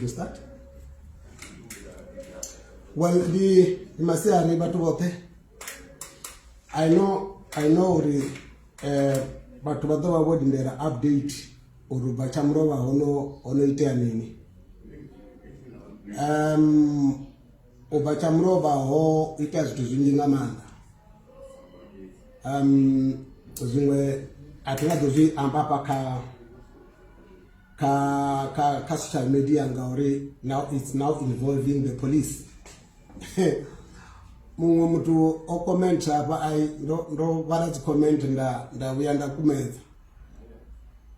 You start? Well, the Masiari Batubote, I know, I know the uh, bathu vha ḓo vha vho lindela update uri bva tsha mulovha hono hono itea mini um U bva tsha mulovha ho itea zwithu zwinzhi nga maanḓa um zwiṅwe a thi nga ḓo zwi amba hafha kha kha kha kha social media ngauri now it's now involving the police muṅwe muthu o comment hafha ai ndo ndo vhala dzi comment nda nda vhuya nda kumedza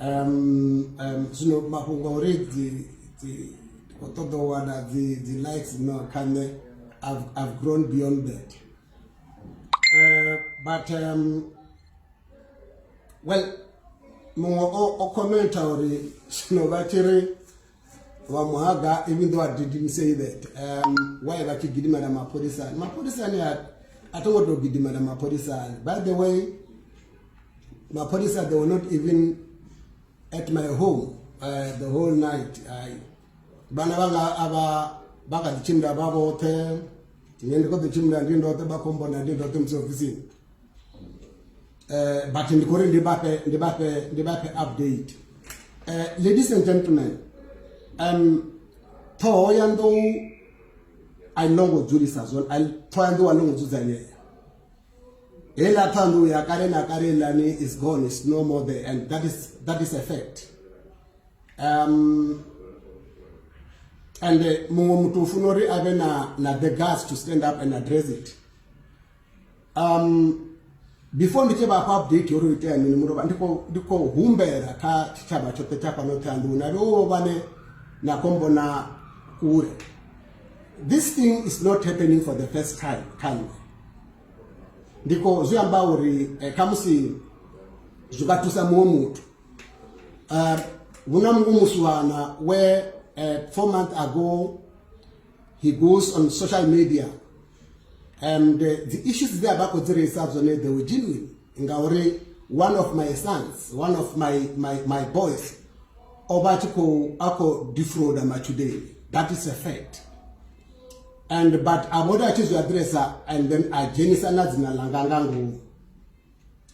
Um, um, zwino mafhungo a uri dzi dzi ndi khou ṱoḓa u wana dzi dzi likes no kha nṋe I've, I've grown beyond that uh, but um, well muṅwe o, o commenta uri zwino vha tshi ri vha muhaga even though I didn't say that um, why vha tshi gidimela mapholisani mapholisani a to ngo tou gidimela mapholisani by the way mapholisa they were not even at my home uh, the whole night I, vana vanga ava vha kha ḓi tshimbila vha vhoṱhe ine ndi khou ḓi tshimbila ndi ndoṱhe vha khombona ndi ndoṱhe musi ofisini Uh, but ndikori ndibape ndibape ndibape update uh, ladies and gentlemen um ṱhoho ya nḓou a i longo dzulisa zwone ṱhoho ya nḓou a longo dzudzanyea heiḽa ṱhoho ya nḓou ya kale na kale iḽani is gone is no more there and that is that is a fact um and uh, muṅwe muthu u funa uri a vhe na na the gas to stand up and address it um before ndi tshi vha fha update uri itea mini mulovha ndi khou humbela kha tshitshavha tshoṱhe tsha fhano thanduni na vhewo vhane na khou mbona kule this thing is not happening for the first time khanwe ndi khou zwi amba uri eh, khamusi zwi nga thusa muṅwe muthu um hu na muṅwe musiwana where uh, four months ago he goes on social media and eh, dzi issues dze a vha khou dzi reisa dzone they were genuine ngauri one of my sons one of my, my, my boys o vha tshi khou a khou defrauda matshudeni that is a fact and but a vhoti a tshi zwi aḓiresa and then a dzhenisa na dzina ḽanga nga ngomu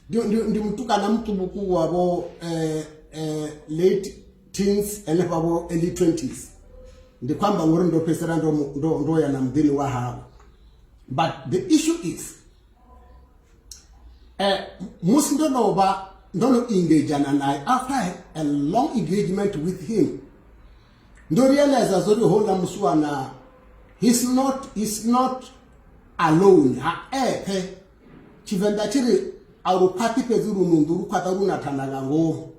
ndi, ndi, ndi mutukana muṱukuku wavho eh, eh, late teens henefha vho early 20s ndi khou amba ngori ndo fhedzisela ndo, ndo, ndo ya na muḓini wa hawe but the issue is eh, musi ndo no vha ndo no engagana naye after a long engagement with him ndo realize zori houḽa musiwana he's not, he's not alone ha eṱhe Tshivenḓa tshi ri a lu khwaṱhi fhedzi lu nunḓu lu khwaṱha lu na thanda nga ngomu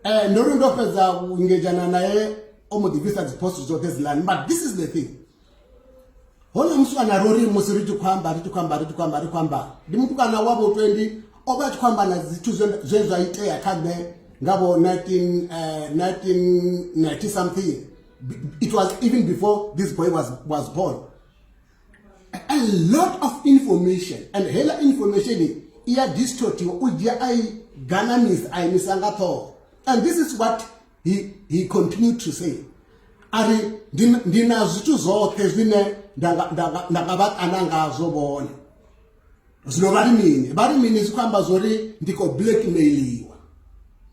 um ndo ri ndo fhedza vhungedzhana naye o mbo ḓi bvisa dziphoso dzoṱhe dzilani but this is the thing hone mutukana ro ri musi ri tshi khou amba ri tshi khou amba ri tshi khou amba ri khou amba ndi mutukana wa vho twendi o vha a tshi khou amba na zwithu zwe zwa itea kha nṋe nga vho 1990 eh, something it was even before this boy was, was born a lot of information and hela information i ya distortiwa u dzhia a i ganamisa a imisa nga ṱhoho and this is what he, he continued to say a ri ndi na zwithu zwoṱhe zwine nda nga vha kana ngazwo vhone zwino vha ri mini vha ri mini zwi khou amba zwo ri ndi khou blackmailiwa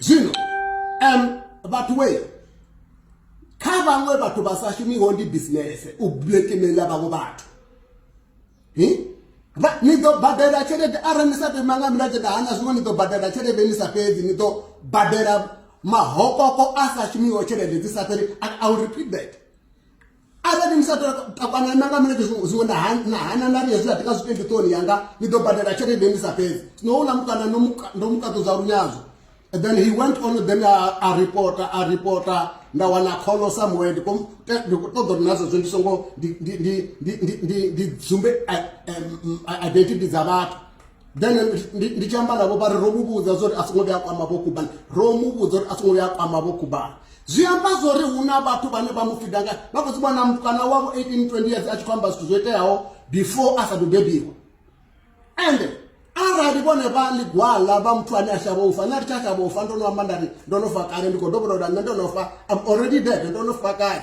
zwino um vhathu we kha vhaṅwe vhathu vha sa shumiho ndi bisinese u blackmaila vhaṅwe vhathu ni ḓo badela tshelede arali ni sa pema nga milenzhe nda hana zwiṅwe ni ḓo badela tshelede ni sa fhedzi ni ḓo badela mahokoko a sa shumiho tshelede dzi sa fheli i will repeat that arali ni sa takwana nanga mune zwiwe na hana na riya zwilatika zwitendi toni yanga ni ḓo badela tshelede ni sa fhedzi no uḽa mukana ndo mukaṱudza lunyadzo and then he went on then a, a reporter a reporter nda wana kholo somewhere ndi khou ṱoḓa uri nazwo zwo ndi songo ndi dzumbe identity dza vhathu then ndi tshi amba navho vha ri ro mu vhudza zwa uri a songo vhuya a kwama vho kubana ro mu vhudza uri a songo vhuya a kwama vho kubana zwi amba zwa uri hu na vhathu vhane vha mu fida nga vha khou dzivhona mukana wavho 18 20 years a tshi khou amba zwithu zwo iteaho before a sa ḓo bebiwa ende arali vhone vha ḽigwala vha muthu ane a shavha ufa nṋe ri tsha shavha ufa ndo no amba nda ri ndo no fa kale ndi khou dovholola nṋe ndo no fa am already dead ndo no fa kale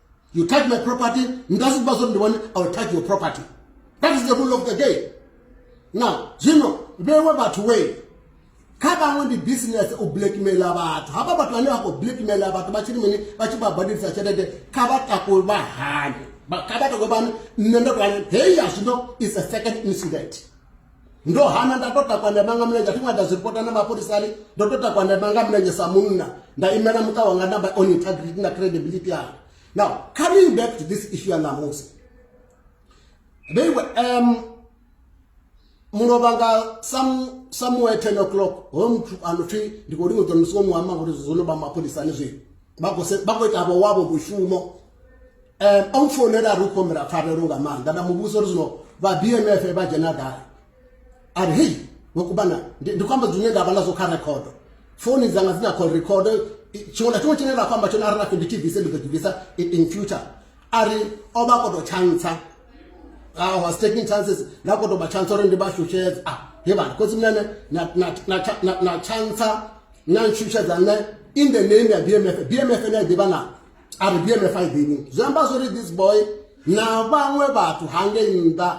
You touch my property, ndazikuba zoti ndiwani, I will touch your property. That is the rule of the game. Now, zvino vewe vatu wei kha vamwe ndi business u blackmaila vhathu hava vhathu vane vha khou blackmaila vhathu vha tshiri mini vha tshi vha badelisa tshelede kha vha takwe vha hane kha vha takwe vhane nṋe ndo to hane heyi ya zwino is a second incident ndo hana nda to takwa nda manga mulenzhe athi ṅwada zwi ripota na mapholisani ndo to takwa nda manga mulenzhe sa munna nda imela muṱa wanga na on integrity na credibility yanga now coming back to this issue ya ṋamusi they were um mulovha nga some somewhere 10 o'clock hoyo muthu ano pfi ndi khou lingedzwa musi wo mu amba ngori zwo no vha mapholisani zwi vha khou ita vho wavho mushumo um a mfounela ri u khou humbela pfarelo nga maanḓa nda muvhusa uri zwino vha b m f vha dzhena gai a ri hei vhokubana ndi khou amba zwine nda vha nazwo kha rekhodo founi dzanga dzi na call record tshiṅwe na tshiṅwe tshine ra khou amba tshone a ri na findi tv se ndi ḓo ḓivhisa in future a ri o vha a koto tshantsha I was taking chances nda koto vha tshantsha uri ndi vha shushedza a he vhana khotsi mnene na tshantsha na ntshushedza nṋe in the name ya b m f b m f ne a ḓivha naa ari bmf i ḓini zwi amba zwori this boy na vhaṅwe vhathu hangei nnḓa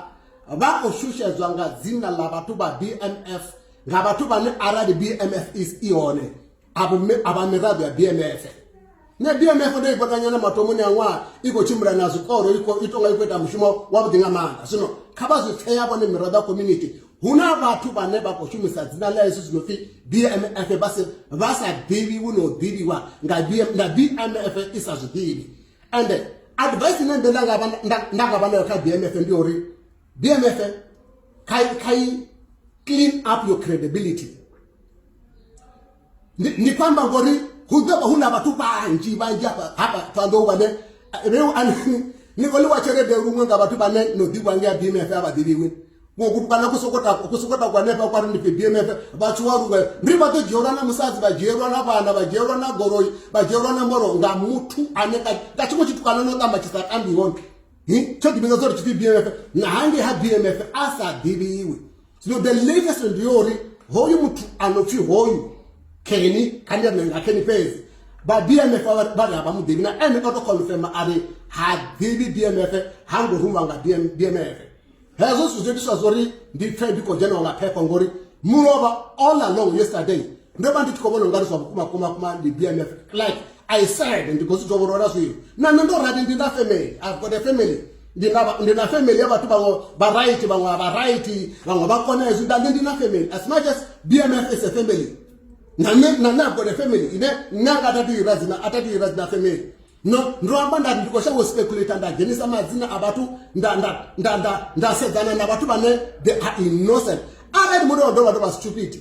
vha khou shushedzwa nga dzina ḽa vhathu vha bmf nga vhathu vhane arali bmf is i hone a vha miraḓo ya bmf ne bmf ndo i vhonanyana matomoni a ṅwaha i khou tshimbila na zwikoro i tonga i khou ita mushumo wavhuḓi nga maanḓa zwino kha vha zwi pfeya vhone miraḓo ya community hu na vhathu vhane vha khou shumisa dzina ḽa yesu zwi no pfhi bmf vha sa ḓivhiwi na u ḓivhiwa nga na bmf i sa zwi ḓivhi and advice ine nṋe nda nga vha nayo kha bmf ndi uri bmf kha i clean up your credibility ndi, ndi kwamba ngori hu ḓo vha hu na vhathu vhanzhi vhanzhi hafha hafha ṱanḓou vhane reu ani ni khou ḽiwa tshelede luṅwe nga vhathu vhane no ḓivha ngea bmf a vha ḓivhiwi kana ku soko takwa hanefha kwari ndi pfi bmf vhathu wa luṅwe ndi vha ḓo dzhielwa na musadzi vha dzhielwa na vhana vha dzhielwa na goloi vha dzhielwa na moro nga muthu ane nga tshiṅwe tshithu kana no ṱamba tshi sa tambi hone tsho ḓivhidza zwo ri tshipfi bmf na hangei ha bmf a sa ḓivhiwi zwino the latest ndi yo uri hoyu muthu a no pfhi hoyu keni kha ndi ane nga keni fhedzi vha bmf vha ri a vha muḓivhi na ene o to confirma a ri ha ḓivhi bmf ha ngo ruma nga bmf hezwo zwithu zwo itiswa zwo ri ndi pfe ndi khou dzheniwa nga phepho ngori mulovha all along yesterday ndo vha ndi tshi khou vhona ungari zwa vhukuma kuma kuma ndi bmf like i said ndi khou zwi dovholola zwino na nṋe ndo rali ndi na family i've got a family ndi na family ya vhathu vhaṅwe vha right vhaṅwe a vha right vhaṅwe vha kona hezwi nda nṋe ndi na family as much as bmf is a family na nṋe na nṋe i've got a family ine nṋe anga atatu ira dzina atatu ira dzina family no ndo amba nda ndi khou shavha u speculate nda dzhenisa madzina a vhathu nda nda nda nda nda sedzana na vhathu vhane they are innocent arali muthu wa dovha tovha stupid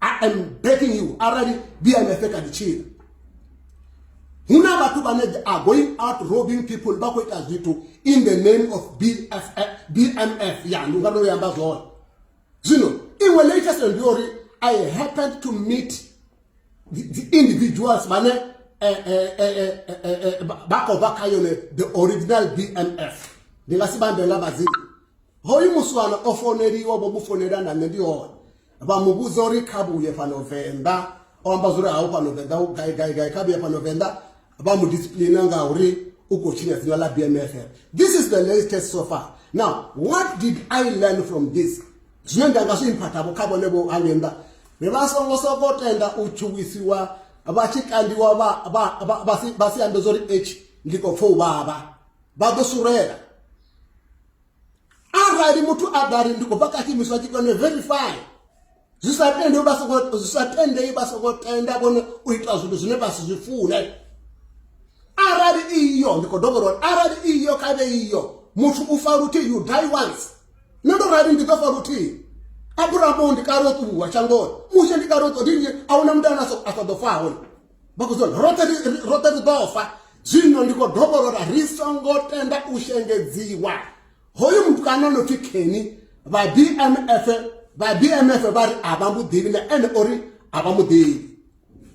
i am begging you arali bmf kha ḓi tshila hu na vhathu vhane are going out robbing people vha khou ita zwithu in the name of bff bmf ya ndi unga ndo yamba zwone zwino iṅwe latest ndi uri i happened to meet the, the individuals vhane eh, eh, eh, vha khou vha kha yone the original bmf ndi nga si vhambe nga madzina hoyu muswana o foneliwa vho mu fonela na nṋe ndi hone vha mu vhudza uri kha vhuye fhano venḓa o amba zwa uri ha u fhano venḓa u gai gai gai kha vhuye fhano venḓa vha mu discipline nga uri u khou tshinya dzina ḽa bmf this is the latest so far now what did i learn from this zwine nda nga zwi imphathavo kha vhone vho hange nnḓa ri vha songo soko tenda u tshuwisiwa vha tshi kandiwa vha si ambe zwa uri h ndi khou pfa u vhavha vha ḓo surela arali muthu a ḓa ri ndi khou bva kha tshiimiswa tshi kone verify zwi sa tendei vha soko zwi sa tendei vha soko tenda vhone u ita zwithu zwine vha si zwi fune arali iyo ndi khou dovha uri arali iyo kha vhe iyo muthu u fa luthihi you die once nṋe ndo rali ndi ḓo fa luthihi aburahamu ndi kale o ṱuwa shangoni mushe ndi kale o ṱo ndi nnyi a huna muthu ane a sa ḓo fa hone vha khou zwa roṱhe roṱhe ri ḓo fa zwino ndi khou dovholora ri songo tenda u shengedziwa hoyu mutukana no pfi keni vha bmf vha bmf vha ri a vha muḓivhi na ene uri a vha muḓivhi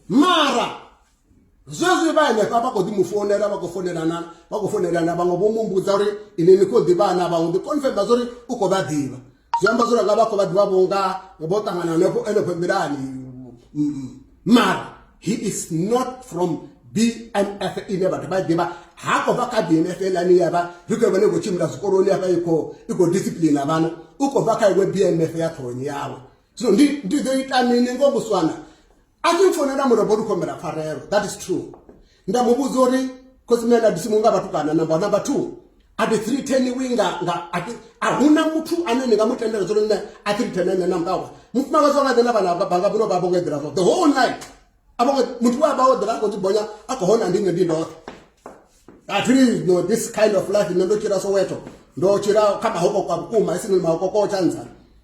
mara zwezwi vha henefha vha khou ḓi mu founela vha khou founelana vha khou founelana vhaṅwe vho mumbudza uri ini ni khou ḓivhana vhaṅwe ḓi confirma zwa uri u khou vha ḓivha zwi amba zwori nga vha khou vha ḓivha vhunga vho ṱangana hanefho enefho nḓilani mara he is not from bmf ine vhathu vha ḓivha ha khou bva kha bmf elani ya vha ri khou vhone khou tshimbila zwikoloni hafha i khou i khou discipline na vhana u khou bva kha iwe bmf ya ṱhohoni yawe zwino ndi ḓo ita mini ngo muswana a tshi mfonela murombo ndi khombela pfarelo that is true nda mu vhudza uri khosi mna ndabisi mu nga vhatukana number number two a ti three ten wi nga nga a huna muthu ane ni nga mu tendela zwo nne a three ten ene na mkawa mufumakadzi wanga dzena vhana vha banga vhuno vha vho nga eḓela zwo the whole night a vho muthu wa vha o ḓela ko dzibonya a kho hona ndi nne ndi ndoṱhe a three no this kind of life nne ndo tshila soweto ndo tshila kha mahoko kwa vhukuma isini mahoko ko tshanzana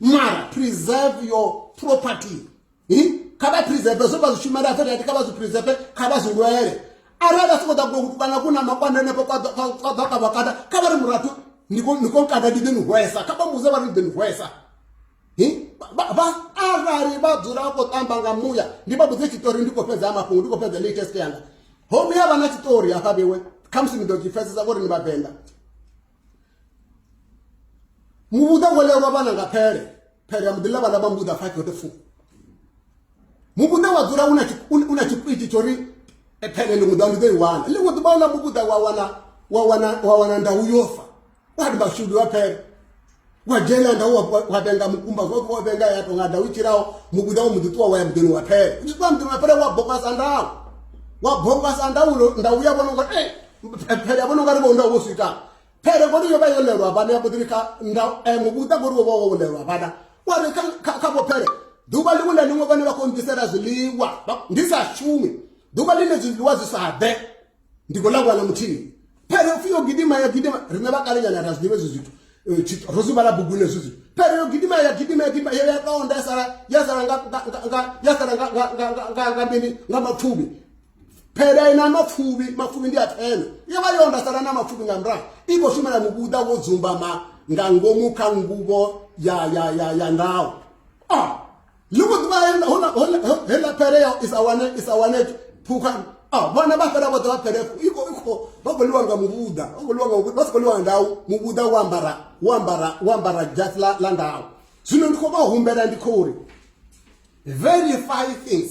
mara preserve your property kha vha preserve zwo vha zwishumela a fhethu ati kha vha zwi preserve kha vha zwi lwele arali vha sokou ḓa kuno kana ku na makwanda henefho kwa ḓa ka vhakanda kha vha ri murathu ni khou nkanda ndi ḓi ni hwesa kha vha mudze vha ri ni ḓi ni hwesa vha arali vha dzula vha khou tamba nga muya ndi vha vhudze tshiṱori ndi khou fhedza ya mafhungo ndi khou fhedza latest yanga homu ya vha na tshiṱori hafha vhewe khamusi ni ḓo tshi pfesesa vho ri ni vhavenḓa muvhuḓa wo lelwa vhana nga phele phele ya muḓi ḽa vhana vha muvhuḓa five yote fu muvhuḓa wa dzula u na tshikwiti tsho ri eh, phele ḽiṅwe ḓa ndi ḓo i wana ḽiṅwe ḓuvha u ḽa muvhuḓa wa wana wa wana wa wana ndau yo fa wa ri mashudu wa phele wa dzhena nda wa vhenga mukumba zwoṱhe wa vhenga ya tonga nda u tshilaho mukuda wo muḓi ṱuwa wa ya muḓini wa phela u tshi ṱuwa muḓini wa phela wa bokwasa ndau wa bokwasa ndau nda uya vhona uri e eh, phele ya vhona ungari vho nda wo swita phele ngori yo vha yo lelwa vhana ya mboḓini kha nda eh, mukuda ngori wo vha wo lelwa vhana wa ri kha vho phele ḓuvha ḽiṅwe na ḽiṅwe vhane vha khou nḓisela zwiḽiwa ndi sa shumi ḓuvha ḽine zwiḽiwa zwi sa ḓe ndi khou ḽa vhana muthihi phere upfhi yo gidima ya gidima riṋe vha kale nyana ra zwi ḓivha ezwi zwithu eh, ro zwi vhala buguni ezwi zwithu phere yo gidima ya gidima ya gidima yo ya kaonda ya sala ya sala nga ya sala nga nga nga nga nga mini nga mapfuvhi phela ina mapfuvhi mapfuvhi ndi a thena yo vha yo nda sala na mapfuvhi nga murahu i khou shumela muvhuḓa wo dzumbama nga ngomu kha nguvho ya ya ya ya ndawo ah ni khou ḓivha heḽa pere ya isa wane isa wane phukhani a ah, vhana vha fhela vhoṱhe vha phelefo i khou ikho vha khou ḽiwa nga muvhuḓa vha khou ḽiwa nga vha si khou ḽiwa nga ndau muvhuḓa wo ambara wo ambara wo ambara jasi ḽa ḽa ndau zwino ndi khou vha humbela ndi khou ri verify things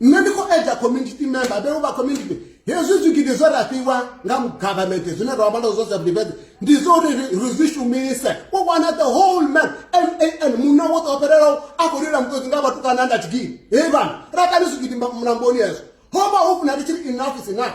nṋe ndi khou edza community member vheu vha community hezwi zwigidi zwe ra fhiwa nga government zwine ra vhala zwo self-defense ndi zwo uri ri zwi shumise u wana the whole man man munna wo ṱo fhelelaho a khou lila muṱoḓi nga vhathu kana nda tshigidi he vhana ra kani zwigidi mulamboni hezwo ho vha ho funa ri tshi ri enough is enough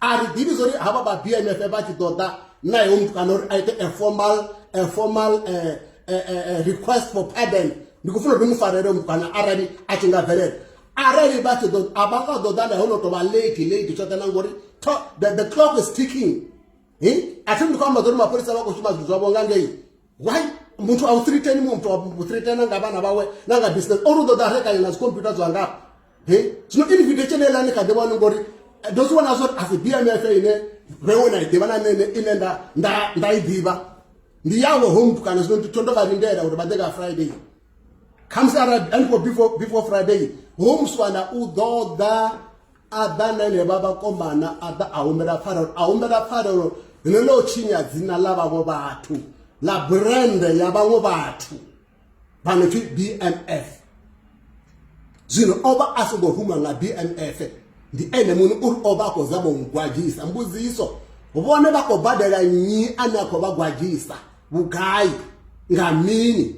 a ri ḓivhi zwa uri havha vha bmf vha tshi ḓo ḓa naye u muthu kana uri a ite a formal a formal eh, eh, eh, request for pardon ndi khou funa uri mu farele u muthu kana arali a tshi nga bvelela arali vha tshi ḓo a vha nga ḓo ḓa naye ho no tou vha late late tshoṱhe na ngori the clock is ticking a thi ndi khou amba zwa uri mapholisa vha khou shuma zwithu zwavho nga ngei why muthu a u threateni muthu a u threatena nga vhana vhawe na nga business ori u ḓo ḓa a rekanya na dzikhompyuta dzwa ngafha he zwino invitation eḽa ni kha ḓi vhone ngori eh, ndo zwi vhona zwori a si bmf ine vhewe na i ḓivha na nene ine nda i ḓivha ndi yawe home kana zwino nditho ndo vha lindela uri vha ḓe nga friday khamusi arali before friday home swana u ḓo ḓa a ḓa na enevha vhakomana a ḓa a humbela pfarelo a humbela pfarelo ḽine ḽo tshinya dzina ḽa vhaṅwe vhathu ḽa brende ya vhaṅwe vhathu vha no pfi bmf zwino o vha a songo ruma nga bmf ndi ene muṋe uri o vha a khou zama u gwadzhisa mbudziso vhone vha khou badela nnyi ane a khou vha gwadzhisa vhugai nga mini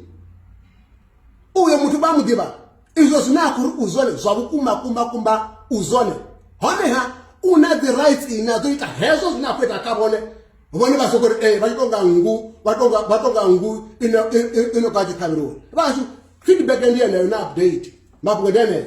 uyo muthu vha mu ḓivha izwo zwine a khou ri u zwone zwa vhukuma kumba kumba u zwone honeha u na dzi rights ine a ḓo ita hezwo zwine a khou ita kha vhone vhone vha soko ri ee eh, vha tshi tonga nngu vha tonga vha tonga nngu ino ino ka tshi ṱhavheliwa vhashu feedback ndi yeneyo na update mafhungo ndi yeneyo